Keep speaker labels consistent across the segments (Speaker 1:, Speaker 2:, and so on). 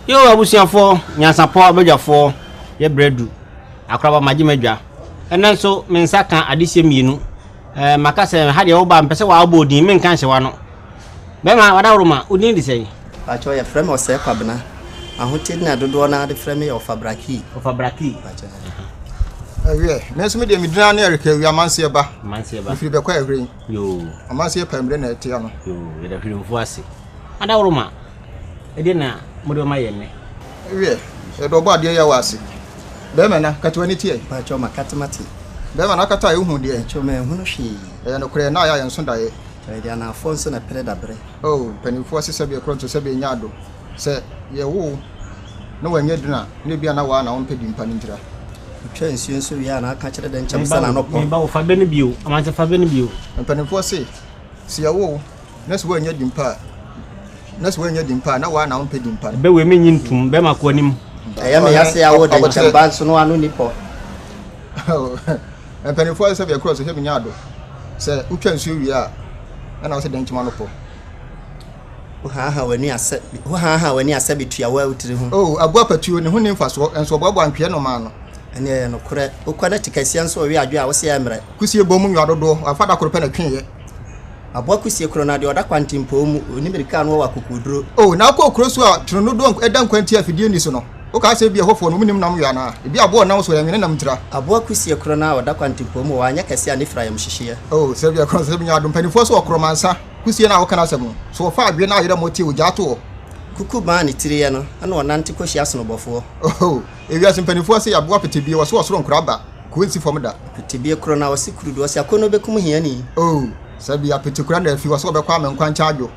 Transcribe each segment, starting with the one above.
Speaker 1: yo abusuafoɔ nyansapɔ abadwafoɔ yɛ berɛ du akoraba magye m'adwa ɛnɛ nso me nsa ka adehyɛ mmienu ɛɛ eh, maka sɛ ha deɛ woba mpɛ sɛ wɔabɔ odin menka nhyɛwa no bɛma wadaworoma odin de sɛn Mpakyɛw yɛfrɛ me
Speaker 2: Ɔsɛɛ Kwabena. Ahoteɛ din a dodoɔ no ara de frɛ me yɛ Ɔfabraki. Ɔfabraki. Mpakyɛw.
Speaker 3: Ɛwiɛ, me nso me deɛ me din ara ne Eric Awi Amanseɛ ba. Amanseɛ ba. Mfiri bɛkɔ ɛhwere. Yoo. Amanseɛ
Speaker 1: pɛmire na
Speaker 3: ɛteɛ no. Yoo, yɛda hwere mfu
Speaker 1: ase. Adaworo ma, ɛdeɛ na mo de bɛma yɛn nnɛ. Ɛwiɛ,
Speaker 3: yɛde ɔbɔ adeɛ yɛ wɔ ase. Bɛrima na, kate w'ani teɛ. Mpakyɛw ma kate ma te.
Speaker 2: Bɛrima na akata
Speaker 3: a ɛhu deɛ. Mpakyɛw ma ɛhunu hwee.
Speaker 2: Ɛyɛ nokorɛ, na ayɛ a
Speaker 3: yɛn nso daeɛ. Mpakyɛw yɛde anaafoɔ nso
Speaker 2: na ɛpere daberɛ. Oh, mpanyimfoɔ
Speaker 3: se sɛbe ɛkorɔ nso sɛbe ɛnyɛ ado. Sɛ yɛwo wo na wanyɛ dunu a, na ebia na waa na wompɛ din pa no ntira. Otwa nsuo
Speaker 2: nso wie a na aka kyerɛ dɛ nkyɛm sɛ n'ano pɔ. Me ba o, fa bɛ no bio,
Speaker 1: Amansa fa bɛ no bio. Mpanyimfoɔ se
Speaker 3: sɛ yɛwo wo na sɛ woannya din pa a, na sɛ woannya din pa a, na waa na wompɛ din pa no. Bɛ wei me nnye ntum, bɛ
Speaker 1: ma kɔ anim. Ɛyɛ me ya sɛ
Speaker 2: yɛawo wo dɛ nkyɛm ba nso no ano nni pɔ. Oh.
Speaker 3: Mpanyimfo ayɛ sɛ bea kor a sɛ hɛn enyiwa do. Sɛ wotwa nsu wie a, nna ɔsɛ dɛn nkyema no pɔ. Wohaahaa w'ani asɛ wohaahaa w'ani asɛ betua wo awutsir ho. O, abowa patuo, ne ho nni mfasoɔ, nso ɔboaboa ntweɛ nnomaa ano. Ɛnneɛ ɛyɛ nokorɛ.
Speaker 2: Wokɔ na kyikasia nso ɔwe adwo a, wose ɛmmerɛ. Kusie bɔ mu nwea dodoɔ,
Speaker 3: wafa da koro pɛ na ɛtweeɛ. Aboa
Speaker 2: kusie koro no adeɛ, ɔda kwantempɔn mu, ɔnni mmirika a na ɔwɔ akokoɔduro. O, na akɔ kuro so
Speaker 3: a, twenenoo dodoɔ a ɛda nkwantia a afidie nni so no. Wokaa sɛ ebia ɛhɔfoɔ no, wɔnnim nam yɔ anaa? Ebia aboa a ɔnam so renwene nam ntira. Aboa kusie korɔ no ara
Speaker 2: a ɔda kwantempɔn mu wɔ hɔ a, anyɛ kɛseɛ a ne fira yam hyehyeɛ? Oh, sɛ ebia ɛkorɔn sɛ sɛ menya
Speaker 3: adom! Mpanimfoɔ so wɔ Koromansa kusie no a woka n'asɛm no? So wɔfa adweɛ no a ayera mu ɔteɛ ogyaa to hɔ? Kuku bã a ne
Speaker 2: tiri yɛ no na ɔnante kɔhyia asonobofoɔ? Oh,
Speaker 3: ewiase mpanimfoɔ se aboa petebie wɔse ɔsoro nkora ba, kuo nsi fam da. Petebie korɔ no ara, ɔse
Speaker 2: kurudu, ɔse akɔnnɔ bɛkum hiani. Oh, sɛ
Speaker 3: ebia petekura na afi hɔ sɛ ɔbɛkɔ a me nkwa nkyɛ adwo.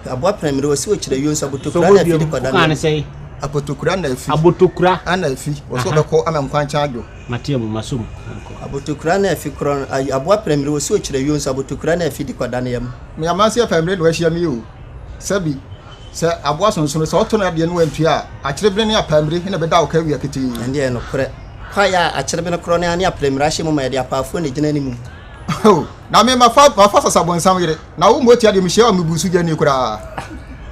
Speaker 3: Aboa pran mire
Speaker 2: wɔsi okyerɛ yio nso abotokura na afi de kɔda no. Ane sɛ
Speaker 1: abotokura na afi.
Speaker 3: Abotokura ana afi
Speaker 1: wɔsi
Speaker 3: wɔbɛkɔ ama nkwankyɛn adwo. Mate mu maso mu.
Speaker 1: Abotokura na
Speaker 2: afi korɔ no ayi aboa pran mire wɔsi okyerɛ yio nso abotokura na afi de kɔda no yam. Me amansi yɛ pran mire
Speaker 3: na wahyia mi o. Sɛbi sɛ aboa sonsono sɛ ɔtɔ no adeɛ no wantua a akyerebene ne apaa mire na ɛbɛda ɔka awia ketee. Ɛndeɛ ɛyɛ nokorɛ.
Speaker 2: Kwaeɛ a akyerebene korɔ no ara ne apran mire ahyɛ mu ma yɛde apaafoɔ na ɛgyina ne mu. Oh, na
Speaker 3: me mafa mafa sasa bonsam yere. Na wo motia deɛ, mehyia wo mmebusugyani koraa.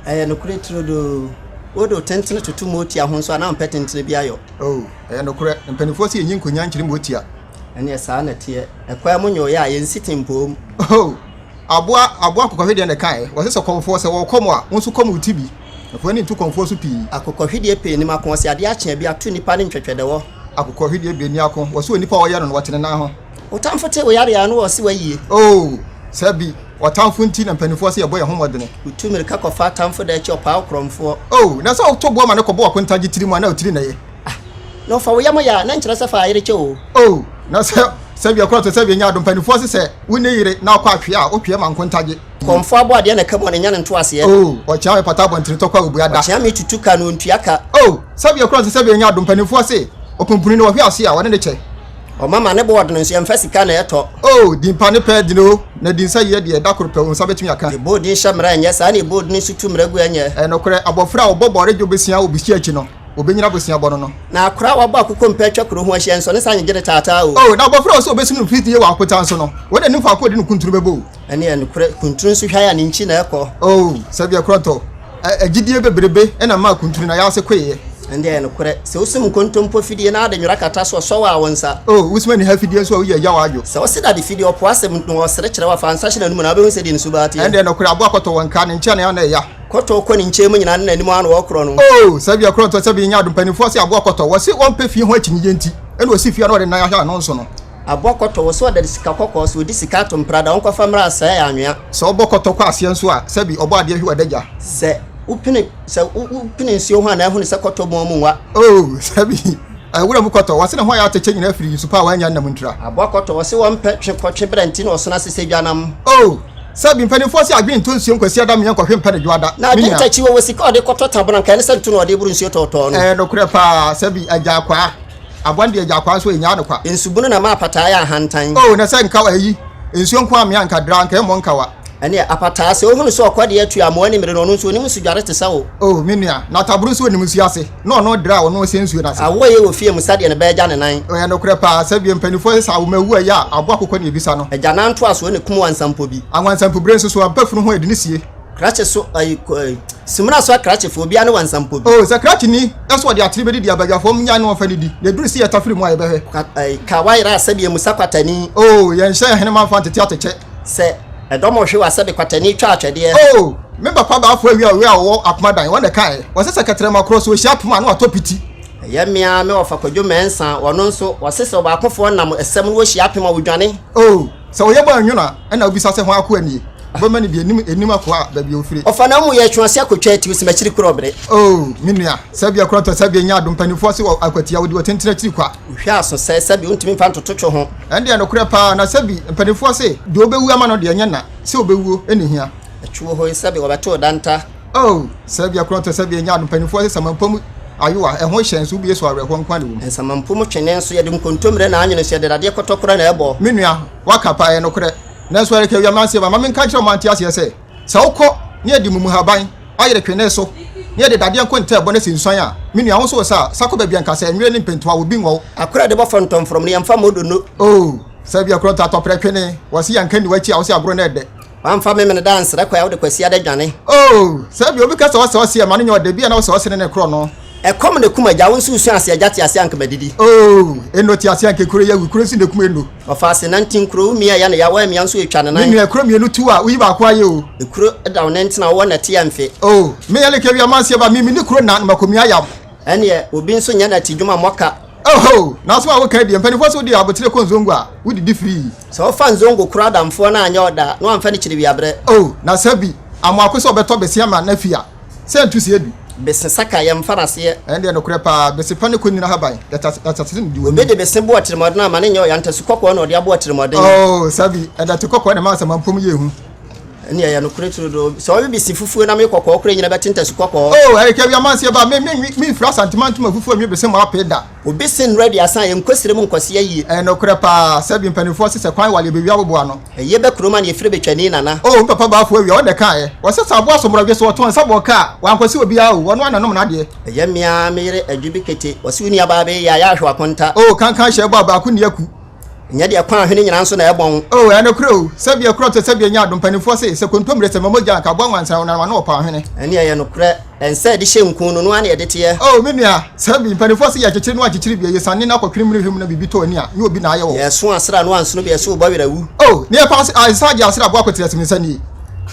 Speaker 3: Ɛyɛ nokorɛ
Speaker 2: turodoo. Wode wo tentene toto motia ho nso a, na wompɛ tentene bi ayɔ. Oo, ɛyɛ nokorɛ.
Speaker 3: Mpanimfoɔ se yɛnyi nkonnyaa nkyere motia. Ɛnneɛ saa na
Speaker 2: ɛteɛ. Ɛkwan mu nyooyɛ a, yɛnsi tempom. Oo,
Speaker 3: aboa, aboa akokɔhwedeɛ na ɛkaeɛ. Wɔse sɛ kɔmfoɔ, sɛ wɔrekɔm a, wo nso kɔm wo ti bi. Na fa w'ani nto kɔmfoɔ so pii. Akokɔhwedeɛ pɛ nnim
Speaker 2: ako. Wɔse adeɛ akye a, bi ato nnipa ne ntwɛtwɛdɛwɔ. Akokɔhwedeɛ bɛ nni
Speaker 3: ako. Wɔse onipa a ɔyɛ no no, ɔte ne nan ho. Wo tamfo te wo yare a,
Speaker 2: na ɔse wayie. Oo, sɛ
Speaker 3: bi ɔtamfo nti na mpanimfoɔ se yɛbɔ yɛn ho mmɔdene. Wotu mmirika kɔfa
Speaker 2: atamfo da akyi, ɔpaa wo korɔmfoɔ. Oo, na sɛ woto boɔ
Speaker 3: ma no kɔbɔ w'akontagye tiri mu a, na wo tiri na ɛyɛ. Ah, na ɔfa wo
Speaker 2: yam yɛ a, na nkyerɛ sɛ fa ayere kyɛ oo. Oo, na sɛ
Speaker 3: sɛbea kura to sɛbea nya adom, mpanimfoɔ se sɛ wo ne yere na ɔkɔ atwe a, wotwe ma nkontagye. Korɔmfoɔ abɔ adeɛ na ɛka
Speaker 2: mu a, na nya no ntoaseɛ. Oo, ɔkyea me pata
Speaker 3: abɔntene tɔkwa a ɔbua da. Ɔkyea me tutu ka na ɔntua
Speaker 2: ka. Oo, sɛbea kura
Speaker 3: to sɛbea nya adom, mpanimfoɔ se ɔpumpuni na ɔhwe ase a, ɔne no kyɛ. Ɔma ma ne bo
Speaker 2: ɔden nso yɛmfa sika na ɛtɔ. O, din pa ne pɛ
Speaker 3: den o. Na din sɛ yɛ deɛ da koro pɛ wo nsa bɛtumi aka. Yɛbɔ odin hyɛ mmara ɛnyɛ.
Speaker 2: Saa na yɛbɔ odin nso tu mmara gu ɛnyɛ. Ɛyɛ nokorɛ, abɔfra a wɔbɔ
Speaker 3: bɔre dwo bosea wɔ bosia akyi no, wɔbɛnyina bosia bɔno no. Na akora a wɔabɔ akokɔ
Speaker 2: mpɛ atwa kuro ho ahyia, ɛnsɔ ne saa nyegye ne taataa o. O, na abɔfra a ɔsɛ wɔbɛsum no
Speaker 3: mfitiiɛ wɔ akotaa so no, wɔn anim faako a ɔde no kuntunu bɛbɔ o. Ɛne ɛnokorɛ
Speaker 2: kunturu nso hwae a ne nkyi na ɛkɔ. Oh, sɛdeɛ korɔntɔ.
Speaker 3: Ɛ, agyidie bebrebe na ɛmaa kunturu na yase koeɛ. Ɛnde ɛyɛ nokorɛ,
Speaker 2: sɛ wosum nkontompo fidie na ade nwera kata so a, ɔsɔ wo a, wo nsa. Oh, wosum aniha fidie
Speaker 3: nso a, woyɛ yaw a, dwo. Sɛ wose dade fidie, ɔpo
Speaker 2: asɛm na ɔsere kyerɛ wo a, fa nsa hyɛ n'anum na wobɛhu sɛdeɛ ne suba teɛ. Ɛnde ɛnokorɛ, aboa kɔtɔ wɔ
Speaker 3: nka, ne nkyɛne a na ɛya. Kɔtɔ kɔ ne nkyɛn mu
Speaker 2: nyinaa ne n'anim a na wɔkorɔ no. Oh, sɛdeɛ korɔntɔ
Speaker 3: sɛbe nyɛ ado. Mpanimfoɔ se aboa kɔtɔ, wɔse ɔmpɛ fie ho akyinnyegyeɛ nti, ɛna ɔsi fie a na ɔde nan ahwɛ a, na ɔnso no. Abɔ kɔtɔ wɔ so
Speaker 2: ɔda de sika kɔkɔɔ so ɔdi sika ato mpra da ɔnkɔfa mmra asɛe anwea. Sɛ ɔbɔ kɔtɔ kɔ aseɛ
Speaker 3: nso a sɛbi ɔbɔ adeɛ hwi wɔ adagya. Sɛ wopene
Speaker 2: sɛ wopene nsuo ho a na ahunu sɛ kɔtɔ mu ɔmo nwa. Oh sɛbi
Speaker 3: ɛyɛ wura mu kɔtɔ wɔ se ne ho ayɛ atɛkyɛ nyina afiri nsu pa a wannya nnam ntira. Abɔ kɔtɔ wɔ se wɔmpɛ
Speaker 2: twe kɔ twe bra nti na ɔsono ase sɛ dwanam. Oh sɛbi
Speaker 3: mpanimfoɔ se adwene ntɔ nsuo nkwasiada mmea nkɔhwe mpɛ ne dwoada Na me nua. adwentakyi wɔ wɔ
Speaker 2: sika a ɔde kɔtɔ tabona nka ɛne sɛ nto na ɔde boro nsuo tɔɔtɔɔ no. Ɛyɛ nokorɛ paa sɛbi
Speaker 3: agya akwaa. Aboa deɛ gyaa kwaa so enyaa no kwa. Nsu bunu na ma apataa yɛ
Speaker 2: ahantan. Oh na sɛ nka eyi
Speaker 3: nsuo nko amea nka draa nka ɛmmɔ nkawa. Ɛneɛ apataa sɛ
Speaker 2: ohunu sɛ ɔkɔdeɛ atu amoa ni mmerɛ no ɔno nso onim nsu dware te sɛ wo. Oh me nua na
Speaker 3: taboro nso onim nsuo ase na ɔno draa ɔno ɔsɛ nsuo no ase. Awoɔ yɛ wɔ fie mu sɛdeɛ
Speaker 2: ne ba agya ne nan. Ɛyɛ nokorɛ paa sɛ
Speaker 3: bia mpaninfoɔ sesa awoma awu a ɛyɛ a aboa kokɔ na ebisa
Speaker 2: no.
Speaker 3: Agyanan ntoasoɔ na
Speaker 2: kum
Speaker 3: wansa mpo bi.
Speaker 2: Anwansa
Speaker 3: mpo bire
Speaker 2: nso so
Speaker 3: aba funu
Speaker 2: ho
Speaker 3: ɛde no sie. Krakye
Speaker 2: so ayi kɔ ayi. Simina so akrakye fo obi ane wansa mpo bi. Oh sɛ krakye ni
Speaker 3: ɛso ɔde atere bɛdidi abaguafoɔ mo nyae no ɔmfa nidi na ɛduru si yɛta firi mu a yɛbɛhwɛ. Ka ayi ka wayera
Speaker 2: asɛbi amu sa kwatani. Oh yɛnhyɛ ahenema
Speaker 3: mfa ntete atɛkyɛ. Sɛ ɛdɔm
Speaker 2: ɔhwe wɔ asɛbi kwatani twa atwɛdeɛ. Oh me papa
Speaker 3: baafoɔ awia ɔwe a ɔwɔ akoma dan wɔn na ɛkaeɛ wɔse sɛ kɛtrɛma korɔ so ɔhyia poma a na watɔ piti. Ɛyɛ me ara me
Speaker 2: wɔfa kwadwo mɛnsa wɔno nso wɔse sɛ ɔbaakofoɔ nam ɛsɛm no wɔhyia apem a wɔdwane. Oh. Sɛ ɔyɛ
Speaker 3: bɔ a nwono a, ɛnna obisa sɛ, Hwan akoa nie? Ɔbɛma no bi, ɛnnim ɛnnim akoa a baabi a ɔfire. Ɔfa n'amumuyɛ twe ase
Speaker 2: akɔtwa atiri sɛ makyiri korɔ bere. O me nua,
Speaker 3: sɛbea koro atɔ sɛbea nya adom mpanimfoɔ ase wɔ akwatia, wɔdi wɔtentene akyiri kwa. Wohwɛ aso sɛ sɛbea
Speaker 2: wontumi mfa ntoto twe ho. Ɛnde ɛnokorɛ paa,
Speaker 3: na sɛbi mpanimfoɔ se deɛ ɔbɛwu ama no deɛ ɛnyɛ na, sɛ ɔbɛwuo ɛnna ɛhia. Ɛtwe wo ho yi sɛbi
Speaker 2: wɔbɛto wo danta. Oh, sɛ
Speaker 3: bia korɔ ntɔ sɛ bia ɛnyɛ ado mpanimfoɔ sɛ samanpo mu ayowa, ɛho hyɛ nso wobie so awerɛhoɔ nko na ɛwom. Nsamanpo mu twene nso
Speaker 2: yɛde nkontommerɛ na anwene nso yɛde dadeɛ kɔtɔkorɔ na ɛbɔ. Me nua, waka paa,
Speaker 3: ɛyɛ nokorɛ. Nanso ɛreka awia mmeranteɛ ma, ma me nka nkyerɛ wɔn ma wɔnte aseɛ sɛ, sɛ wokɔ na yɛde mmumuhaban ayere twene so na yɛde dadeɛ nko ntɛɛ bɔ na ɛsi nsuan a, me nua, wo nso wo sa a, sa kɔ baabi a nka sɛ nwere ne mpɛntoa wɔ bi nwɔ wo. Akora a yɛde bɔ fɔntɔmfrɔm
Speaker 2: no, yɛmfa mmɔ donno. Oh, sɛ bia
Speaker 3: korɔ ntɔ atɔprɛ twene, wɔse yɛnka nni w'akyi a, wose agorɔ na ɛdɛ. Wamfa Memeneda
Speaker 2: ansrɛ kwan a wode Kwasiada dwane. Oh! Sɛ ebia
Speaker 3: obi ka sɛ ɔsɛ ɔse ɛma no nyɛ ɔda bi a na ɔsɛ ɔse ne ne koro no. Ɛkɔm na ɛkum agya,
Speaker 2: wo nso wusua ase agya te ase anka madidi. Oh! Eno te
Speaker 3: ase anka ekuro yɛ awu, kuro nso na ekum Eno. Ɔfa ase nante nkuro,
Speaker 2: wo mia yɛ ne ya, wo amia nso etwa ne nan. Me nua ekuro mienu tu a, woyi
Speaker 3: baako ayɛ o. Ekuro da wo nan ti
Speaker 2: na wowɔ nɛte a mfe. Oh! Me yɛ like
Speaker 3: wia manse ba, me mini kuro na na mako mia yam. Ɛneɛ obi
Speaker 2: nso nyɛ nɛte dwuma mmɔ ka. Oho! Nanso
Speaker 3: a woka adie, mpaninfoɔ se wode abotire kɔ nzongo a, wodidi firii. Sɛ ɔfa nzongo
Speaker 2: koro adamfoɔ no anyɛ ɔda a, na wamfa no kyiri wiaberɛ. Oh, na sɛ bi,
Speaker 3: Amoako sɛ ɔbɛtɔ bese ama n'afi a, sɛ ntu sie bi. Bese saka, yɛmfa
Speaker 2: no aseɛ. Ɛndeɛ nokorɛ paa,
Speaker 3: bese pa ne kɔ nyina haban, yɛtasese no di w'anim. Obi de bese bo atirimɔden
Speaker 2: a, ma no nyɛ ɔya, ntasu kɔkɔɔ na ɔde abo atirimɔden. Oh, sɛ bi,
Speaker 3: ɛdɛte kɔkɔɔ na ɛma asamanpɔ mu yɛ hu. Ɛndeɛ ɛyɛ nokorɛ
Speaker 2: turodoo. Sɛ ɔwe bese fufuo na me kɔkɔɔ kora nyina bɛte ntasu kɔkɔɔ. Oh, ɛrekɛ wi amanseɛ
Speaker 3: ba, me, me nwi, me nfiri Asantemantom afufuo nwi bese mu apee da. Obi se nnora di
Speaker 2: asan yɛ nkosire mu nkɔseɛ yie. Ɛyɛ nokorɛ paa
Speaker 3: sɛ bi mpaninfoɔ se sɛ kwan wale ɛbɛwie aboboa no. Ɛyɛ bɛ kurom a na yɛfrɛ
Speaker 2: bɛ twani nana. Oh me papa Bafo Awia ɔno
Speaker 3: na ɛkaeɛ. Ɔse sɛ aboa so mmorɔdwe so ɔtɔn nsa bɔ ka a wankɔse obiara o, ɔno ara na nom n'adeɛ. Ɛyɛ me ara me yere
Speaker 2: Adwo bi kete. Ɔse wo nuabaa bɛyɛ yie a yɛ ahwɛ w'akonta. Oh kankan hyɛ bɔ a
Speaker 3: baako nni aku. Nyɛ deɛ kwan
Speaker 2: hwene nyinaa nso na ɛbɔ ho. O, ɛyɛ nokorɛ o, sɛ
Speaker 3: bia kuro ɔtɛ sɛ bia nyaado, mpanimfoɔ se, sɛ kontommire sɛ ma mogya a, nka aboa nwansa ɔnanam ano ɔpaw ahwene. Ɛneɛ ɛyɛ nokorɛ,
Speaker 2: ɛnsɛ ɛde hyɛ nku no, noaa na ɛde teɛ. O, me nua, sɛ
Speaker 3: bi, mpanimfoɔ se yɛ kyekyere noaa kyekyere bia, yɛ siane no akɔ kene mune hwɛ mu na biribi tɔ ani a, nyɛ obi na ayɛ wɔ. Yɛ so asra noaa nsono
Speaker 2: bia so bɔ werɛ awu. O, neɛ paa se, ae,
Speaker 3: saa gye asra aboa kotire ase me nsa nie.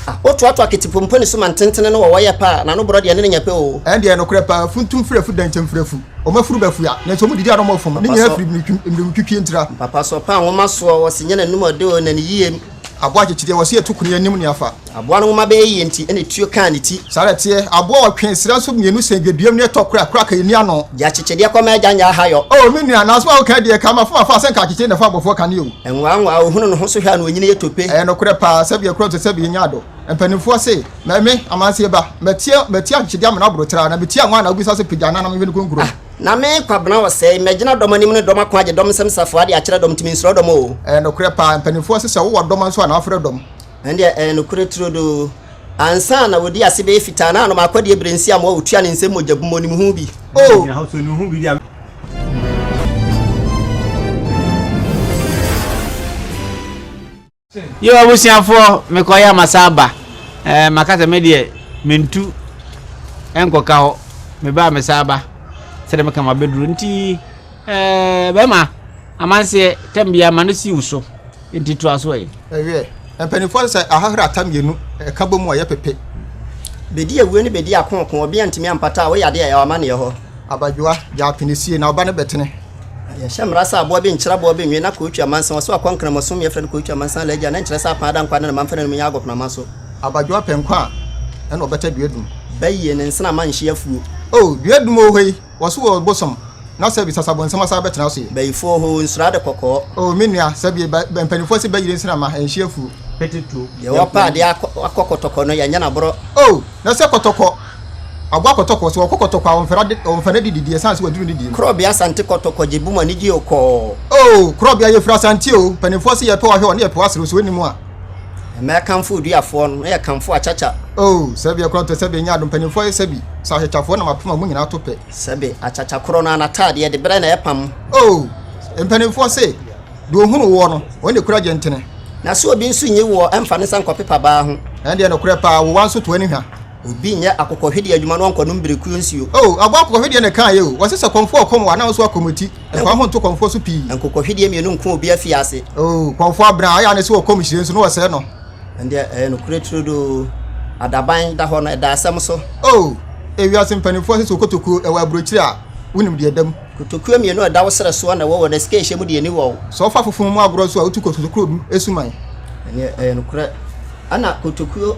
Speaker 3: A, wo toa toa
Speaker 2: ketepompo ne so ma ntentene no wɔ wɔ yɛ paa, na no borɔ deɛ ne ne nyɛ pɛ o. Ɛndeɛ ɛyɛ nokorɛ paa,
Speaker 3: funtum firi afu dɛnkyɛm firi afu. wɔn afuru bɛfua nanso wɔn didi ara wɔn fam ne nyinaa firi mmirimtwitwie ntira. Mpapa so ɔpɛ a nwoma
Speaker 2: soɔ wɔsi nyɛ n'anum ɔde o na ne yiem. Aboa kyekyedeɛ wɔsi
Speaker 3: ɛto kuni anim ne afa. Aboa no nwoma bɛyɛ yie
Speaker 2: nti ɛna etuo kaa ne ti. Saa ara ɛteɛ, aboa
Speaker 3: ɔtwe srɛ nso mmienu sɛn dwaduam ne ɛtɔ koro a koro aka ɛnni ano. Gya kyekyedeɛ kɔ ma agya
Speaker 2: nyɛ ahayɔ. Oh me nua, nanso a woka
Speaker 3: yi deɛ, ka ma fom afa sɛ nka akyekyere na ɛfa abɔfoɔ ka ne o. Nwawa nwawa, ohunu ne ho
Speaker 2: so hwɛ a na onyini yɛ tope. Ɛyɛ nokorɛ paa, sɛbi
Speaker 3: ɛkorɔ nso sɛbi yɛ nyaado. Mpanimfoɔ se. Mɛ me, Amansie ba, mɛteɛ, mɛteɛ ahwehwɛdeɛ amena aboro tra, na meteɛ anwa na wobisa sɛ pagya anaa na menhwɛ ne kronkron. Ah, na me, Kwabena
Speaker 2: Ɔsɛe, mɛgyina dɔm anim ne dɔm ako agye dɔm nsam safoa ade akyerɛ dɔm nti mensuro dɔm oo. Ɛyɛ nokorɛ paa, mpaninfoɔ
Speaker 3: se sɛ wowɔ dɔm a nso a na wafrɛ dɔm. Ɛndeɛ ɛyɛ nokorɛ
Speaker 2: turodoo. Ansa na wɔdi ase bɛyɛ fitaa na anom akɔdeɛ berɛ nsi amoa ɔtua ne nsam mogya gu mu ɔnim ho bi oo.
Speaker 1: Yo abusuafoɔ mekɔyɛ a masan aba ɛɛ maka sɛ me deɛ mentu ɛnkɔka hɔ meba a mesan aba sɛdeɛ meka mabɛduru nti ɛɛ bɛrima amanseɛ tam bia ma no si wo so nti to aso ɛ. Ɛyɛ mpanimfoɔ
Speaker 3: sɛ ahahra ata mmienu ɛka bɔ mu a ɛyɛ pepe. Bɛdi
Speaker 2: awuo ne bɛdi akooko ɔbea ntumi ampata a woyɛ adeɛ a ɛwɔ amaneɛ hɔ. Abadwoa gya
Speaker 3: apene sie na ɔba no bɛtene. Yɛnhyɛ mmara
Speaker 2: sɛ aboa bi nkyere aboa bi nnwe na Kootwi amansan ɔso akɔ Nkramosom yɛfrɛ no Kootwi amansan la agya na nkyerɛ sɛ apaa da nkwa ne ne mamfɛnɛ no mu nyɛ agɔpenama so. Abadwo apɛ nkwa a
Speaker 3: ɛna ɔbɛtɛ duadum. Ba yie ne nsena ma
Speaker 2: nhye afuo. O duadum o
Speaker 3: hoi wɔ so o bosom na sɛbi sasabo nsɛm asan bɛtena so yi. Bayifo o hoo nsuro ade
Speaker 2: kɔkɔɔ. O me nua sɛbi
Speaker 3: ba mpaninfoɔ se ba yire nsena ma nhye afuo. Deɛ
Speaker 1: ɔpɛ adeɛ
Speaker 2: akɔ kɔtɔkɔ no yɛnyɛ no aborɔ. O na sɛ
Speaker 3: kɔtɔkɔ. Aboa kɔtɔkɔ, sɛ ɔkɔ kɔtɔkɔ a ɔmfa n'adi didi ɛsiane sɛ waduru ne deɛ mu. Korɔbea Asante Kɔtɔkɔ
Speaker 2: gye bum anigye o kɔɔ. Oh Korɔbea
Speaker 3: yɛfiri Asante o Mpanimfoɔ se yɛpɛ w'ahwɛ wɔ ne yɛpɛ w'asere o Sɛ w'anim a. Ɛma yɛkamfo
Speaker 2: oduafoɔ no na yɛkamfo akyakya. Oh Sɛbi ɛkorɔntɔ
Speaker 3: sɛbi ɛnyɛ adom Mpanimfoɔ yɛ sɛbi sɛ akyakyafoɔ Nam apem a wɔn nyinaa to pɛ. Sɛbi akyakya korɔ
Speaker 2: no a n'ataadeɛ de berɛ na ɛpam. Oh
Speaker 3: Mpanimfoɔ se deɛ ɔhunu woɔ
Speaker 2: no ɔno na
Speaker 3: ɛkura
Speaker 2: gyentene. Na
Speaker 3: sɛ
Speaker 2: obi nso
Speaker 3: nyi
Speaker 2: woɔ
Speaker 3: ɛmfa
Speaker 2: ne nsa nkɔpepa baa
Speaker 3: ho.
Speaker 2: Ɛndeɛ
Speaker 3: nokorɛ paa wowa nso toa ne hwa. Obi nyɛ akokɔhwedeɛ
Speaker 2: adwuma na ɔnkɔnom birekuo nsuo. O, aboa akokɔhwedeɛ na
Speaker 3: ɛkaeɛ o. Wɔse sɛ kɔmfoɔ rekɔm wo a, na wo nso akɔm wo ti. Ɛfa wo ho nto kɔmfoɔ so pii. Nkokɔhwedeɛ mmienu nko obi
Speaker 2: afiase. O, kɔmfoɔ abena a,
Speaker 3: ɛyɛ a na sɛ ɔkɔm hyire nso, na wɔsɛe no. Ɛndeɛ ɛyɛ nokorɛ
Speaker 2: turodoo. Adaban da hɔ no, ɛda asɛm so. O, ewiase
Speaker 3: mpanimfoɔ se sɛ okotokuo ɛwɔ aburokyire a, wonim deɛ ɛda mu. Kotokuo mmienu a ɛda wo
Speaker 2: serɛ soɔ na ɛwɔ wɔ n'asikaehyɛ mu deɛ ɛni wɔ wo. Sɛ wofa fofom mu agorɔ
Speaker 3: nso a, wotu kotokuo no suman. Ɛndeɛ ɛyɛ
Speaker 2: nokorɛ. Ɛna kotokuo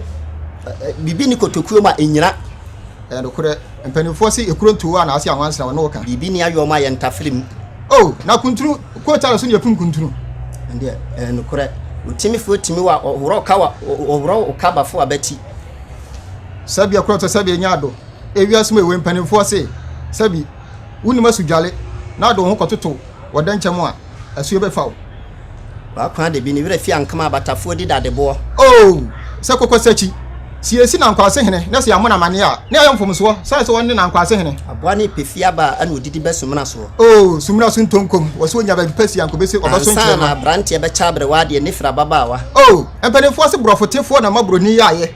Speaker 2: ɛ ɛ biribi ni kotokuo ma ɛnyina. Ɛyɛ nokorɛ
Speaker 3: mpanimfoɔ se ekuro ntoo a na ase anwansena wɔn ne wo ka. Biribi ni ayɔm a yɛntafere
Speaker 2: mu. Oh na kuntunu
Speaker 3: quote ara so na yɛkum kuntunu. Ɛndeɛ ɛyɛ
Speaker 2: nokorɛ otimifoɔ timi wa ɔworɔ ɔka wa ɔworɔ ɔka bafo abati.
Speaker 3: Sɛbi ɛkorɔ tɔ sɛbi ɛnyɛ ado ewiase mu ewe mpanimfoɔ se sɛbi wonim asu dwale na ade wo ho kɔtoto wɔ dɛnkyɛm a asuo bɛfa wo. W'akoa
Speaker 2: de bi ne werɛ fi ankama abatafoɔ di dadeboɔ. Oo! Sɛ
Speaker 3: kokosakyi siesie n'ankwasehene na sɛ yɛammɔ no amanneɛ a, na ɛyɛ mfomsoɔ sane sɛ ɔne n'ankwasehene. Aboa no repɛ fie aba
Speaker 2: a, na ɔdidi bɛ sumina soɔ. Oo! Sumina so ntonkom,
Speaker 3: wɔ sɛ ɔnya baabi pa si anko bɛsi ɔbɛso nkyerɛma. Ansa na aberanteɛ bɛkyɛ
Speaker 2: aberewa adeɛ, ne firi ababaawa. Oo! Mpanimfoɔ se
Speaker 3: borɔfotefoɔ na ama buroni yaayɛ.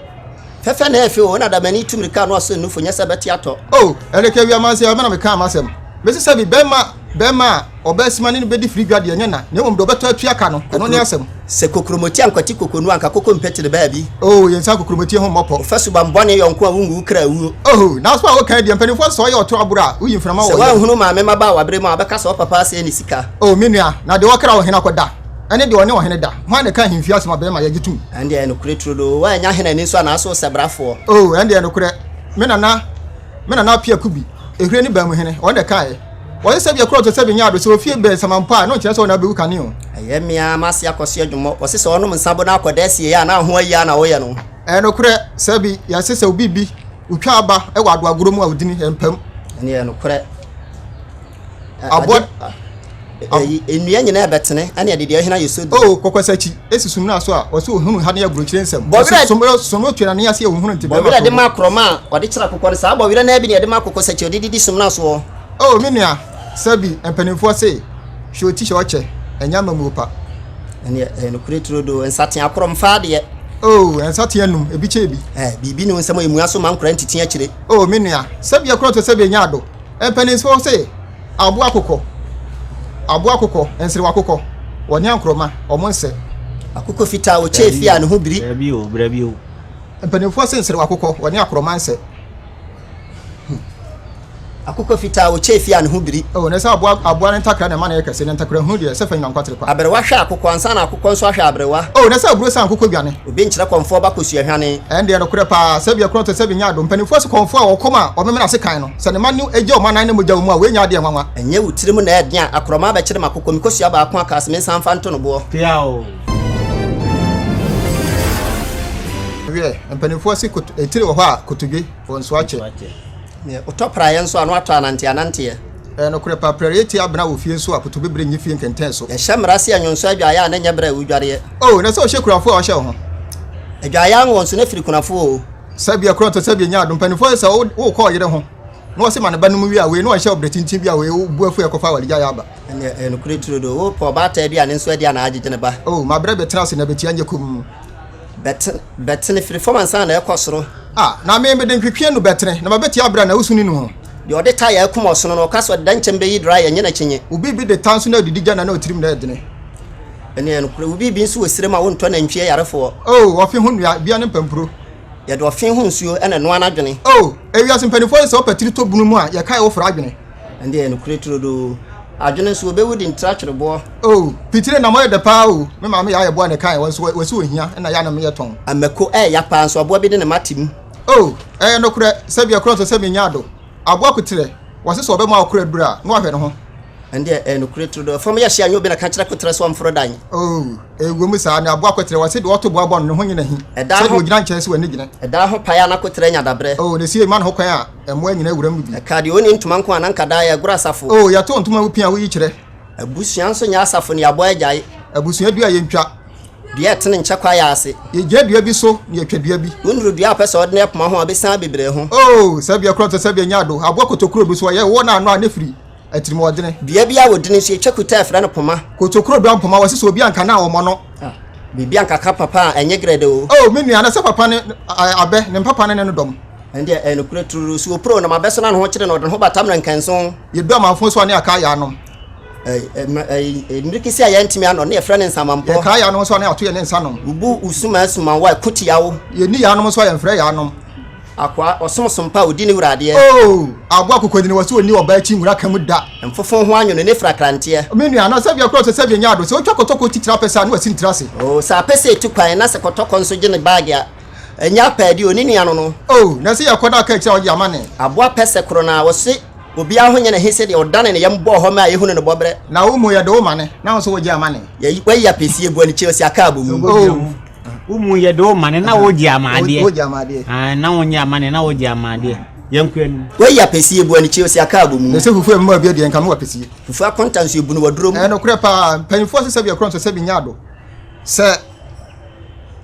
Speaker 3: Fɛfɛ na ɛyɛ
Speaker 2: fɛ o, ɛna da m'ani tu mmirika ano ɔsen nufo, nyɛ sɛ ɛbɛte atɔ. O, ɛreka awia amansan
Speaker 3: ɔbɛ na mekaa m'asɛm. Mese sɛ bi, bɛrima, bɛrima a ɔbɛ asima ne no bɛdi firi dwa deɛ, ɛnyɛ na, na mmom deɛ ɔbɛtɔ atua ka no, ɛno ne asɛm. Sɛ kokuromoti
Speaker 2: ankwati kokonu a, anka koko mpɛtene baabi. O, yɛn nsa kokuromoti
Speaker 3: ho mmɔ pɔ. Wo fa suban bɔne yɔnko a,
Speaker 2: wongu wo kra awuo. O, n'asɛm a wokae
Speaker 3: deɛ, mpanimfoɔ se sɛ ɔyɛ ɔtorɔ aboro a, woyi mframa wɔ yam. Sɛ woanhunu maame
Speaker 2: mmabaawaberɛ mu a, wɔbɛka sɛ ɔpapa asɛe ne sika. O, me nua, na deɛ
Speaker 3: ɔkra wo hene akɔda. ɛne deɛ ɔne ɔhene da. Hwan na ɛka ahemfie asɛm a bɛrima yɛ gye tom? Ɛnde ɛyɛ nokorɛ turodoo,
Speaker 2: woannya hene ani nso anaa so ɔsɛbrafoɔ? Oo, ɛnde ɛyɛ nokorɛ,
Speaker 3: me nana, me nana ɔpea Kubi, ehwire ne baa mu hene, ɔno na ɛkaeɛ. Wɔse sɛ bia korɔ to sɛ benyɛ ado, sɛ ofie bɛn sama mpo a, na ɔnkyerɛ sɛ ɔna abɛwu kane o. Ɛyɛ me ara m'ase
Speaker 2: akɔsoɛ dwommɔ. Wɔse sɛ ɔnom nsabo na akɔda asie yɛ a, na ho ayie ara na woyɛ no. Ɛyɛ nokorɛ, sɛ
Speaker 3: bi, yɛse sɛ obi bi, otwa aba wɔ adoagorɔ mu a odini, ɛmpam. Ɛnde ɛyɛ nokorɛ.
Speaker 2: aboa ɛyi nnua nyinaa bɛtene ɛne ɛde deɛ ɛhena yɛ so di. o kɔkɔsakyi esi
Speaker 3: sum na so a wɔsi ohunu ha ne aburokyire nsɛm bɔwerɛ sumro sumro twɛ na ne ase ohunu nti bɛrima bɔwerɛ de ma akorɔma a
Speaker 2: ɔde kyerɛ akokɔ no saa bɔwerɛ naa bi ne ɛde ma kɔkɔsakyi ɔde didi sum na soɔ. o me nua
Speaker 3: sɛbi mpanimfoɔ se hwɛ oti hyɛ ɔkyɛ ɛnyɛ amamuo pa. ɛneɛ ɛyɛ
Speaker 2: nokorɛ turodoo nsatea akorɔm faa deɛ. o nsatea
Speaker 3: num ebi kyɛ ebi. ɛɛ biribi ne wo nsɛm a emua
Speaker 2: so ma nkora ntiti akyire. o me nua sɛbi
Speaker 3: ɛkorɔ to sɛbi enya ado. Mpanimfoɔ se aboa kokɔ, aboa kokɔ, nserewa kokɔ, wɔne ankorɔma, wɔn nsɛ. Akokɔ fitaa,
Speaker 2: ɔkyɛ efi a ne ho biri. Dabi o, brabi o.
Speaker 1: Mpanimfoɔ se
Speaker 3: nserewa kokɔ, wɔne akorɔma nsɛ. Hmm.
Speaker 2: Akokɔ fitaa, ɔkyɛ efi a ne ho biri. O, na ɛsɛ aboa, aboa
Speaker 3: ne ntakra na ɛma no yɛ kɛse, na ntakrahunu deɛ, ɛsɛ fa nyina nkwatere kwa. Aberewa hwɛ akokɔ ansa na
Speaker 2: akokɔ nso ahwɛ aberewa. O, na ɛsɛ aburo san akokɔ
Speaker 3: dwane. Obi nkyerɛ kɔmfoɔ ba
Speaker 2: kɔsuahwane. Ɛndeɛ nokorɛ paa,
Speaker 3: sɛbi ɛkorɔn te sɛbi nyɛ ado. Mpanimfoɔ se kɔmfoɔ a ɔkɔm a ɔmemene ase kan no. Sɛ ne mma no gye wɔn anan ne mogya wɔ mu a, wɔanya adeɛ nwanwa. Ɛnyɛ wo tirim na ɛyɛ
Speaker 2: den a akorɔmaa bɛkyere m'akokɔ, me kosua baako a kaa se mensan mfa nto no boɔ?
Speaker 1: Peaw!
Speaker 3: Wiɛ, mpaninfoɔ se kot etire wɔ hɔ a kotodwe wɔ nso akyɛ. Neɛ otɔ
Speaker 2: praeɛ nso a na watɔ ananteananteɛ. Ɛyɛ nokorɛ paa,
Speaker 3: prɛreɛ tia abena wɔ fie nso a kotobibire nnye fie nkɛntɛn so. Yɛhyɛ mmara se anwonso adwaeɛ
Speaker 2: a na ɛnyɛ berɛ a wodwareɛ. Oh, na sɛ ɔhyɛ kunafoɔ
Speaker 3: a ɔhyɛ wo ho. Adwaeɛ
Speaker 2: anwonso na firi kunafoɔ o. Sɛbea kura ɔtɔ
Speaker 3: sɛbea nya adom mpanyimfo ayɛ sɛ wo kɔ ɔyere ho na ɔse ma ne ba no mu wie a wei na ɔnhyɛ ɔbrɛ tintin bi a wei wo bu afu ɛkɔfa awaregya yɛ aba ɛnɛ ɛyɛ nokore turo do
Speaker 2: wo pɛ ɔbaata bi a ne nso adi a na agyegye ne ba oh ma brɛ bɛtena ase na
Speaker 3: bɛtia nyɛ komm
Speaker 2: bɛtene firi fam ansa na ɛkɔ soro ah na me mede
Speaker 3: ntwetwe anu bɛtene na ma bɛtia abrɛ na wosu ne nu ho deɛ ɔde ta yɛ akum
Speaker 2: ɔsono no ɔka sɛ ɔde da nkyɛm bɛyi dra yɛ nyɛ n'akyinye obi bi de ta nso na adidi
Speaker 3: gya na na ɔtirim na ɛdene. Ɛneɛ
Speaker 2: nokorɛ wo biribi nso wɔ sire mu a wontɔ nantwie ayarefoɔ. O ɔfe ho nnua
Speaker 3: bia ne mpampuro. Yɛde ɔfe ho
Speaker 2: nsuo na ɛnoa n'adwene. O ewiase mpanimfoɔ
Speaker 3: yi sɛ wopɛ tiri tɔ bunu mu a yɛkae wo foro adwene. Ɛneɛ nokorɛ
Speaker 2: turodoo adwene nso wɔbɛwu de ntira twere boɔ. O pitire nam ɔyɛ
Speaker 3: dɛ paa o me maame yɛ ayɛ boɔ na ɛkae wɔ nso wɔsi wɔ hia na yɛ anam yɛ tɔn. Amako ɛyɛ ya paa nso
Speaker 2: aboa bi de ne mma te mu. O ɛyɛ
Speaker 3: nokorɛ sɛ bia korɔ nso sɛ me nyaa do. Aboa koterɛ, wɔse sɛ ɔbɛma ɔkora aduru a, na wahwɛ ne ho. Ɛndeɛ ɛyɛ nokorɛ
Speaker 2: turo no fam yɛ hye a nyɛ obi na ka kyerɛ koterɛ sɛ ɔmforo dan. Oh, ɛwɔ mu
Speaker 3: saa, ne aboa koterɛ, wɔse deɛ ɔto boa bɔ no, ne ho nyɛ no ahi, sɛ deɛ ɔgyina nkyɛn sɛ w'ani gyina. Ɛdan ho paeɛ a na koterɛ
Speaker 2: nya daberɛ. Oh, na ɛsiei ma no ho kwan a
Speaker 3: mmoa nyina wuram no bi. Ɛkaa deɛ ɔnni ntoma nko a na
Speaker 2: nka daa yɛregoro asafo. Oh, yɛto ntoma a wopi a woyi
Speaker 3: kyerɛ. Abusua nso nyɛ
Speaker 2: asafo ne aboa agyae. Abusua du a yɛntwa.
Speaker 3: Dua a ɛtene nkyɛ
Speaker 2: kwaeɛ ase. Yɛgyina dua bi so
Speaker 3: na yɛtwa dua bi. Wonuru dua a ɔpɛ sɛ ɔdene
Speaker 2: ɛpoma ho a, ɔbɛsian abibire ho. Oo, saa dua korɔ te sɛ
Speaker 3: deɛ nyaado, aboa kotokuro bi so a yɛwɔ n'ano a ne firi atirimuɔdene. Dua bi a wɔdini nso,
Speaker 2: yɛtwa
Speaker 3: kuta
Speaker 2: a
Speaker 3: ɛfrɛ no
Speaker 2: poma.
Speaker 3: Kotokuro
Speaker 2: dua
Speaker 3: mpoma,
Speaker 2: wɔse
Speaker 3: sɛ
Speaker 2: obi
Speaker 3: anka no
Speaker 2: a,
Speaker 3: wɔmmɔ no. Ah, biribi
Speaker 2: anka ka papa a, ɛnyɛ grɛdɛ o. Oo, me nua, na sɛ papa ne
Speaker 3: abɛ, ne mpapa ne ne no dɔm. Ɛndeɛ ɛyɛ nokorɛ
Speaker 2: tururu. Suo puro nam abɛ so na ne ho kyere no, ɔde ne ho bata mmerɛnkɛnson. Yɛdu amanfoɔ so a ne
Speaker 3: yɛaka ayɛ anom. Mmere
Speaker 2: kesi a yɛntumi anɔ ne yɛfrɛ no nsamanpɔ. Yɛkaa yɛanom nso a ne
Speaker 3: ato yɛ ne nsa nom. Mbu usuma asuman
Speaker 2: wa ɛko tia wo. Yɛnni yɛanom nso a
Speaker 3: yɛmfrɛ yɛanom. Akoa ɔsom
Speaker 2: sompa a odi ne wura adeɛ. Oh aboa
Speaker 3: kokodini wɔ so onni ɔbaa akyi nwura ka mu da. Mfofo ho anwono ne
Speaker 2: frakranteɛ. Me nua na sɛbea kura
Speaker 3: ɔsɛ sɛbea nya ado sɛ otwa kɔtɔkɔ titire apɛsɛ a na wasini tiri ase. Oh sɛ apɛsɛ tu
Speaker 2: kwan na sɛ kɔtɔkɔ nso gye ne baage a. Ɛnyɛ apɛɛde o, ne nua no no. Oh, na sɛ yɛkɔ na ɔka
Speaker 3: akyire a ɔgye ama ne. Aboa pɛsɛ koro no
Speaker 2: ara, wɔse obiara ho nyɛ ne he sɛdeɛ ɔdane ne yam bɔɔ hɔ mɛ a yɛhunu no bɔberɛ. Na wo mmu yɛde wo ma ne,
Speaker 3: na wo nso wogye ama ne. Yɛyi, wayi apɛsie
Speaker 2: gu anikye, ɔsi aka abɔ mu. Oh. Wo mmu yɛde
Speaker 1: wo ma ne, na wogye ama adeɛ. Wogye ama adeɛ. Ae,
Speaker 3: na wonyɛ ama ne,
Speaker 1: na wogye ama adeɛ. Yɛnkɔ anim. Wayi apɛsie gu
Speaker 2: anikye, ɔsi aka abɔ mu. Mese fufu ɛmma bi deɛ,
Speaker 3: nka mewɔ apɛsie. Fufu akonta nso ɛbunu
Speaker 2: w'aduro mu. Ɛyɛ nokorɛ paa, mpanyinfoɔ
Speaker 3: se sɛbi ɛkorɔ nso sɛbi nyɛ ado. Sɛ.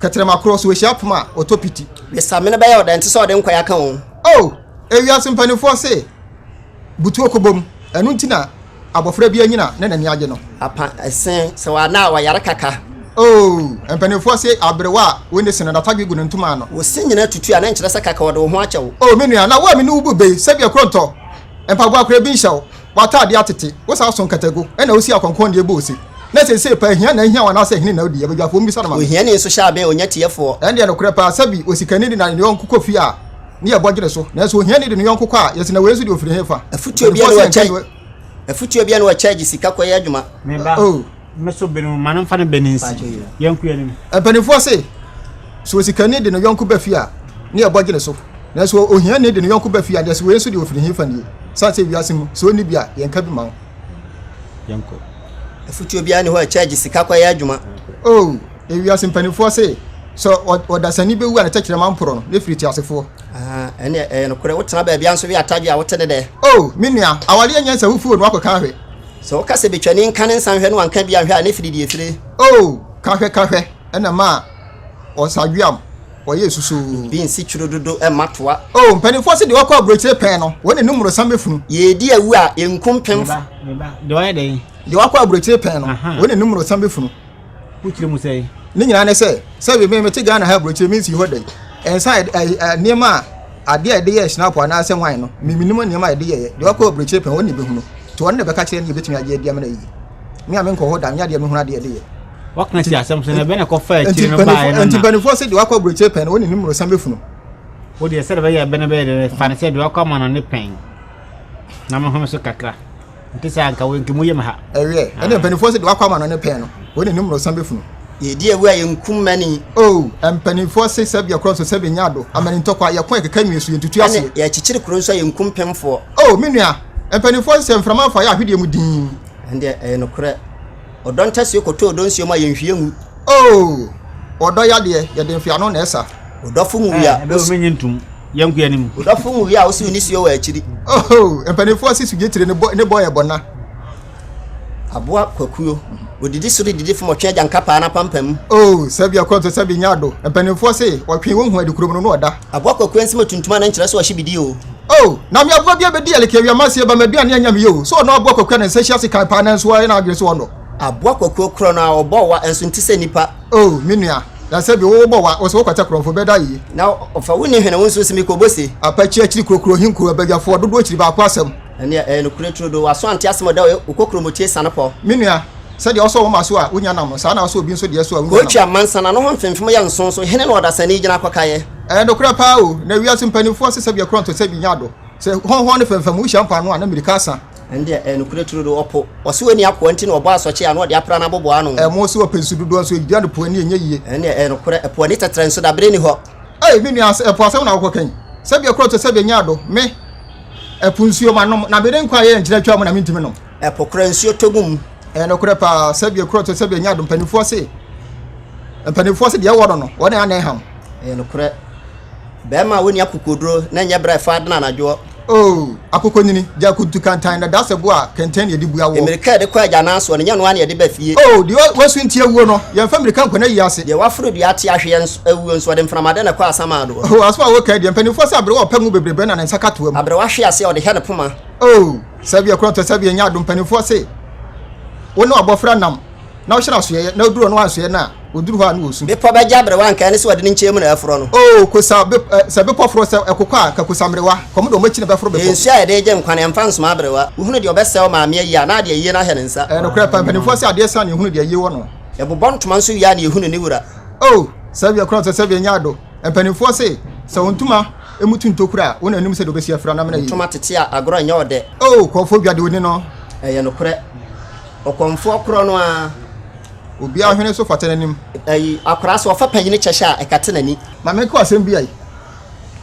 Speaker 3: Kɛtrɛma korɔ so wɔhyia poma a wɔtɔ piti. Ne samene bɛyɛ
Speaker 2: ɔdɛ nte sɛ ɔde nkwae aka wɔn. Oh, ewiase
Speaker 3: mpanimfoɔ se butuo kɔbom, ɛno nti na abɔfra bi anyina na n'ani agye no. Apa se
Speaker 2: sɛ wɔanna a wɔyare kaka. Oh, mpanimfoɔ
Speaker 3: se aberewa a wɔnni se no n'atadwe gu ne ntoma ano. Wo se nyina tutu a na
Speaker 2: nkyerɛ sɛ kaka wɔde wo ho akyɛ wo. Oh, me nua, na wo a me ne wo
Speaker 3: bu bɛ yi, sɛdeɛ korɔntɔ mpaboa koraa bi nhyɛ wo. w'atade atete, wo san so nkatagu, ɛnna wusi akɔnkɔnneɛ bu ose, Na seesei paa, hia na ahia wo anaasɛ hene na odi yɛn badwafoɔ? Mummisa no ma me. Ohiani nso hyɛ abɛn
Speaker 2: onya tiɛfoɔ. Ɛndeɛ nokorɛ paa, sɛbi
Speaker 3: osikani de ne yɔnko kɔ fie a, ne yɛbɔ dwene so, nanso ohiani de ne yɔnko kɔ a, yɛse, Na wei nso deɛ ɔfiri hefa?
Speaker 2: Afotuo bia na wɔkyɛ gye sika kɔyɛ adwuma?
Speaker 1: Mpanimfoɔ se,
Speaker 3: sɛ osikani de ne yɔnko ba fie a, ne ɛbɔ gye ne so, nanso ohiani de ne yɔnko ba fie a, deɛso wei nso deɛ ɔfiri hefa nie? Sane sɛ wiase mu, sɛ ɔnni bi a, yɛnka bi ma wo.
Speaker 1: Afotuo
Speaker 2: biara nni hɔ a ɛkyɛ gye sika kɔyɛ adwuma. Oh, ewiase
Speaker 3: mpanimfoɔ se, sɛ ɔdasani bɛwu a ne tɛkyerɛma mporɔ no, ne firi teasefoɔ. Ahaa, ɛnneɛ ɛyɛ
Speaker 2: nokorɛ. Wotena baabiara nso we atadwe a, wote ne dɛ? Oh, me nua, aware
Speaker 3: yɛ nyansa wo foo no akɔ ka hwɛ. Sɛ woka sɛ betwani
Speaker 2: nka ne nsa nhwɛ na wanka bi anhwɛ a, ne firi deɛ fire. Oh, ka hwɛ ka
Speaker 3: hwɛ, ɛna ma ɔsadweam ɔyɛ susoo. Bi nsi twuro dodo
Speaker 2: mma toa. Oh, mpaninfoɔ se deɛ ɔkɔ
Speaker 3: aburokyire pɛn no, wɔn n'anim mmorosam bɛfunu. Yɛredi awu a,
Speaker 2: yɛnku mpemfo. Me ba, me ba, deɛ ɔyɛ
Speaker 1: dɛn? Deɛ ɔkɔ aburokyire pɛn no,
Speaker 3: wɔn n'anim mmorosam bɛfunu. wokyerɛ mu
Speaker 1: sɛn? ne nyinaa ne sɛ
Speaker 3: sɛ me mete ghana ha aburokyire me nsii hɔ da yi ɛnsa nneɛma a adeɛ a yɛde yɛ snap anaasɛ wan no memenim nneɛma a yɛde yɛyɛ deɛ wakɔ aburokyire pɛn ɔne bɛhunu nti ɔne na bɛka kyerɛ ne yɛbɛtumi agye adi amena yiye me a menkɔ hɔ da nyɛ deɛ mehunu adeɛ de yɛ wɔka si asɛm
Speaker 1: sɛ ɛbɛn ɛkɔ fa akyire no baeɛ no nti mpanimfoɔ sɛ deɛ wakɔ aburokyire
Speaker 3: pɛn ɔne ne mmorosan bɛfunu wo deɛ sɛdeɛ
Speaker 1: bɛyɛ ɛbɛn bɛyɛ deɛ fa ne sɛ deɛ wakɔ ama no ne pɛn na mehome so kakra nte saa nka wɔn nkimu yam ha. Ɛyɛ ɛna ah. mpanimfoɔ sɛ
Speaker 3: deɛ wakɔ ama no ne pɛn no wɔn na anim na ɔsan bɛfunu. yɛdi awu a
Speaker 2: yɛnkum mani. o oh, mpanimfoɔ
Speaker 3: se sɛ bia korɔ nso sɛ bɛnya ado amani ntɔkwa yɛko a yɛkeka nwie so yɛntutu aseɛ. yɛkyekyere kuro nso a yɛnkum
Speaker 2: pemfoɔ. o oh, me nua
Speaker 3: mpanimfoɔ se sɛ mframa afa yɛ ahwedeɛ mu din. ɛndeɛ ɛyɛ nokorɛ.
Speaker 2: Ɔdɔ ntasuo kɔtɔ ɔdɔ nsuo mu a yɛnhwie ngu. Oh,
Speaker 3: ɔdɔ yadeɛ, yɛde nhwea ano na ɛsa. Ɔdɔfo nwui a
Speaker 2: Ɛbɛ osi. menye ntom,
Speaker 1: yɛn nkoa nim. Ɔdɔfo nwui a osiw
Speaker 2: nisuo wɔ akyiri. Oh, mpanimfoɔ
Speaker 3: si sugye tire ne bɔ yɛ bɔna.
Speaker 2: Aboa kwakuo, odidi soro didi fam ɔtwe agyanka paa n'apampam mu. Oh, sɛbi ɛkɔ nso
Speaker 3: sɛbi nyɛ ado, mpanimfoɔ se ɔtwe ohu ade kurom no na ɔda. Aboa kwaku ɛnsɛm atuntum
Speaker 2: a na nkyerɛ sɛ ɔhye bidi oo. Oh na me aboa
Speaker 3: bi abɛdi ɛleke awia maseɛ ba maduane anya me yɛ o sɛ ɔnɔ aboa kwaku a ne nsa hyia sekan paa nanso wayɛ n'adwene sɛ ɔnɔ. Aboa kwaku okorɔ
Speaker 2: no a ɔbɔ wa ɛnso nte sɛ nipa. Oh me nua
Speaker 3: na sɛ bi wo bɔ wa ɔsɛ wo kwata korɔnfo bɛ da yi. Na ɔfa wo nni
Speaker 2: hwene wo nso se me kɔ bose. Apakyi akyiri kurokuro
Speaker 3: he nkuroɔ badwafoɔ dodoɔ kyiri baako asɛm. Ɛnneɛ, ɛyɛ nokorɛ
Speaker 2: turodoo. W'aso ante asɛm a ɔda hɔ yi, wo kokuromotue sane kɔ. Me nua, sɛdeɛ
Speaker 3: wosɔ wo mma so a wonnya nam no, saa ara na wosɔ obi nso deɛ so a wonnya nam. Kookyia mmansa na no ho
Speaker 2: mfemfem yɛ nson so hene na ɔdasani gyina kɔkaeɛ. Ɛyɛ nokorɛ paa o,
Speaker 3: na wiase mpanimfoɔ asesa bi akorɔnto sɛ bi nyɛ adɔ. Sɛ hɔnhɔn ne fɛmfɛm mu hyia mpoano a, na mmirika asa. Ɛnneɛ, ɛyɛ nokorɛ
Speaker 2: turodoo. Ɔpo, ɔse ɔnni akoa nti na ɔbɔ asɔkye a na ɔde apra n'aboboano. Ɛmo se ɔpɛ nsu dodoɔ nso
Speaker 3: enti ɛna po ani nyɛ yie. Ɛnneɛ, ɛyɛ nokorɛ. Ɛpo
Speaker 2: ani tɛtrɛ nso, dabere nni hɔ. Ei, me nua, sɛ ɛpo
Speaker 3: asɛm na wokɔka yi, sɛ bi akorɔnto sɛ bi nyɛ adɔ. Me. Ɛpo nsuo manom, na mede nkwa a ɛyɛ nkyerɛ twaa mu na mentumi nom. Ɛpo kora nsuo tɔ gu
Speaker 2: mu. Ɛyɛ nokorɛ paa,
Speaker 3: sɛdeɛ kuro tɔ sɛdeɛ nyɛ ado mpanimfoɔ se, mpanimfoɔ se deɛ ɛwɔ no no, wɔn na ɛne ham. Ɛyɛ nokorɛ,
Speaker 2: barima a ɔnni akokoɔduro na ɛnyɛ berɛ a ɛfa adena anadwoɔ. Oo, akokɔnyini,
Speaker 3: gya kuntu kantan na da sɛ bo a kɛntɛn na ɛde bu awoɔ. Mmirika a ɛde kɔ agyanan
Speaker 2: soɔ no, nyɛ ɛno ara na ɛde ba fie. Oo, deɛ wasunti
Speaker 3: awuo no, yɛmfa mmirika nkɔ n'ayiase. Deɛ waforo dua ate ahweɛ
Speaker 2: Awuo nso, ɔde mframa dɛ na ɛkɔ asaman doɔ. O asɛm a woka deɛ, mpanimfoɔ
Speaker 3: sɛ aberewa a ɔpɛ ngo bebrebe na ne nsa ka toa mu. Aberewa hwe aseɛ a ɔde hɛ
Speaker 2: ne
Speaker 3: poma.
Speaker 2: O sɛbea
Speaker 3: korɔntɔ, sɛbea nyɛ adom, mpanimfoɔ se wo ne w'abɔfra nam na wohyɛ no asoɛeɛ, na oduru ɔno ansoɛ no a, oduru hɔ a na ɔresu. Bepɔ bɛgye aberewa anka
Speaker 2: ɛne sɛ ɔde ne nkyɛn mu na ɛreforɔ no. O kosa bepɔ,
Speaker 3: sɛ bepɔ forɔ, sɛ ɛkokɔ a, anka kosa mmerewa, kɔm de wɔn akyi na ɛbɛforo bepɔ. Nsuo a yɛde regye nkwa no, yɛmfa
Speaker 2: nsoma aberewa. Wohunu deɛ ɔbɛsɛe wo maame ayie a, na adeɛ ayie no ahyɛ ne nsa. Ɛyɛ nokorɛ paa, mpanimfoɔ se
Speaker 3: adeɛ sa na yɛhunu deɛ ayie wɔ no. Yɛbobɔ ntoma nso
Speaker 2: wie a na yɛhunu ne wura. Oh, sɛbea
Speaker 3: koraa sɛ sɛbea nyɛ ado. Mpanimfoɔ se, Sɛ wo ntoma mu tu ntokura a, wo na anim sɛ deɛ wobɛsi afira no amena yie. Ntoma tete a agorɔ nyɛ
Speaker 2: ɔdɛ. Oh, kɔɔfoɔ dwa deɛ ɔni
Speaker 3: no. Ɛyɛ nokorɛ.
Speaker 2: Ɔkɔmfoɔ korɔ no ara. Obiara
Speaker 3: hwene so fata n'anim. Ayi, akwadaa sɛ
Speaker 2: ɔfa panyini kyɛ hyɛ a, ɛkata n'ani. Ma menka wo asɛm bi ai.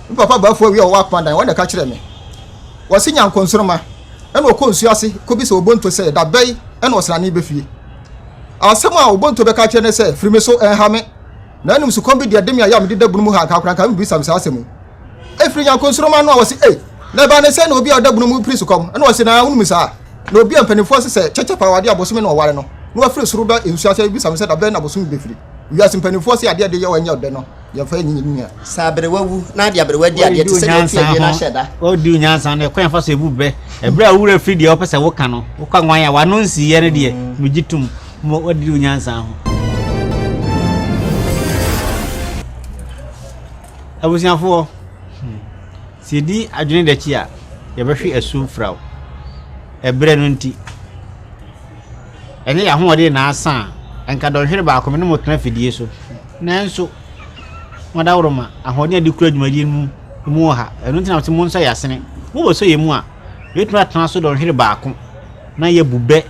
Speaker 3: Me papa Bafo Awi a ɔwɔ Akpanadan, ɔno na ɛka kyerɛɛ me. Ɔse Nyankonsoroma, ɛna ɔkɔ nsuo ase kɔbisa Obonto sɛ, da bɛn na ɔsrane bɛ fie. Asɛm a Obonto bɛka akyerɛ ne sɛ, Firi me so, ɛnha me. Na mmom sukɔm bi deɛ de me a yɛ a mededa bunu mu ha, anka akora anka mebisa me saa asɛm yi. Ɛfiri Nyarko nsoromma no a ɔse, Ei, na ɛbaa ne sɛn na obi a ɔda bunu mu piri sukɔm? Ɛna ɔse, Na wonim saa? Na obi a mpanimfoɔ ase sɛ kyɛkyɛ paa awadeɛ a bosome na ɔware no, na wafiri soro ba nsuo ase abisa me sɛ da bɛn na bosome bɛfiri wiase mpanimfoɔ ase a adeɛ de yɛ wɔ ɛnyɛ ɔdɛ no.
Speaker 2: Yɛmfa nni yɛn nua. Sɛ aberewa wu na de aberewa di adeɛ te sɛ deɛ ɔte awie no ahyɛ da. Ɔredi
Speaker 1: onyansa no, ɛkwan fa so ebu bɛ. Ɛberɛ a owura firi deɛ ɔpɛ sɛ woka no, woka nwan a wano nsiiɛ no deɛ, megye tom ma ɔdidi onyansa ho. Abusuafoɔ, sɛ yɛdi adwene dɛkyi a, yɛbɛhwe asu mfraw, ɛberɛ no nti. Ɛnyɛ yɛn ahoɔden na asa a, anka dɔnhwere baako me ne mo tena afidie so. Nanso, mo adaworoma, ahoɔden a ɛde kura dwumadie no mu wɔ ha. Ɛno nti na mese monsɔ yɛn asene. Mobɛsɔ yɛn mu a, yɛbɛtumi atena so dɔnhwere baako na yɛabu bɛ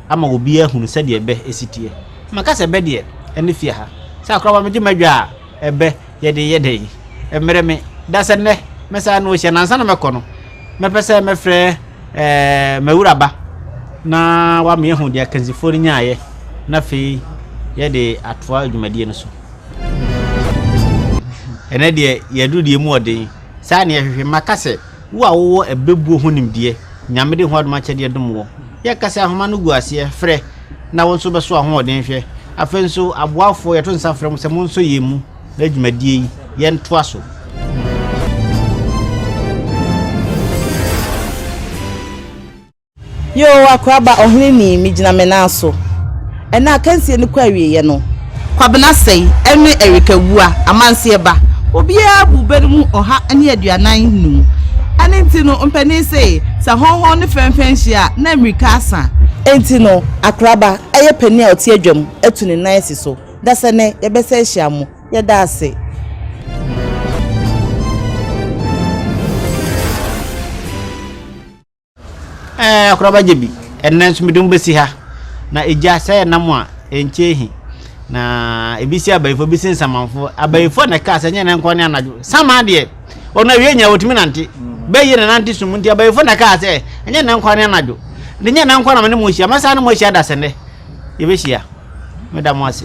Speaker 1: ama obiara ahunu sɛdeɛ bɛ si teɛ. Maka sɛ bɛ deɛ, ɛne fie ha. Sɛ akoraba megye m'adwa a, ɛbɛ. Yɛde yɛ dɛn? Ɛmmrɛ me da sɛ nnɛ mɛsan ano ahyia no. Ansa na mɛkɔ no, mɛpɛ sɛ mɛfrɛ ɛɛ m'awuraba na wama yɛahu deɛ akansifoɔ no nyaeɛ na afei yɛde atoa dwumadie no so. Ɛnɛ deɛ yɛadu deɛ mu ɔden. Saa ne yɛhwehwɛ. Maka sɛ Wo a wowɔ ɛbɛbuo ho nimdeɛ, Nyame de hoadom akyɛdeɛ dom woɔ. Yɛka sɛ ahoma no gu aseɛ, frɛ, na wo nso bɛso ahoɔden hwɛ. Afei nso, aboafoɔ, yɛto nsa frɛ mo sɛ monsɔ yɛn mu na dwumadie yi, yɛntoa so.
Speaker 4: Yoo akoraba ɔhene ni me gyina me nan so ɛnɛ akansie no kɔ awieɛ no. Kwabena sɛi ɛne Erika wua amanseɛ ba. Obiara abu bɛ no mu ɔha ne aduanan num ɛno nti no mpanin se sɛ hɔnhɔn ne fɛnfɛn nhyia a na mmirika asa. Enti no akoraba ɛyɛ panin a ɔte adwa mu atu ne nan asi so dasɛ nɛ yɛbɛsɛ ahyia mo yɛda ase.
Speaker 1: Ɛɛ, akora bɛgye bi. Ɛnnɛ nso mede mo bɛsi ha. Na egya, sɛ yɛ nam a, ɛnkyɛ ehi. Na ebi si abayifo, ebi si nsamanfo. Abayifo na ɛkaa sɛ nyɛ ne nkɔ ne anadwo. Saman deɛ, ɔno awie nyɛ ɔtumi nante. Bɛyɛ na nante sum nti abayifo na ɛkaa sɛ nyɛ ne nkɔ ne anadwo. Ne nyɛ ne nkɔ na me ne mo hyia. Mɛsan ne mo ahyia da sɛ nnɛ. Yɛbɛhyia. Meda mo ase.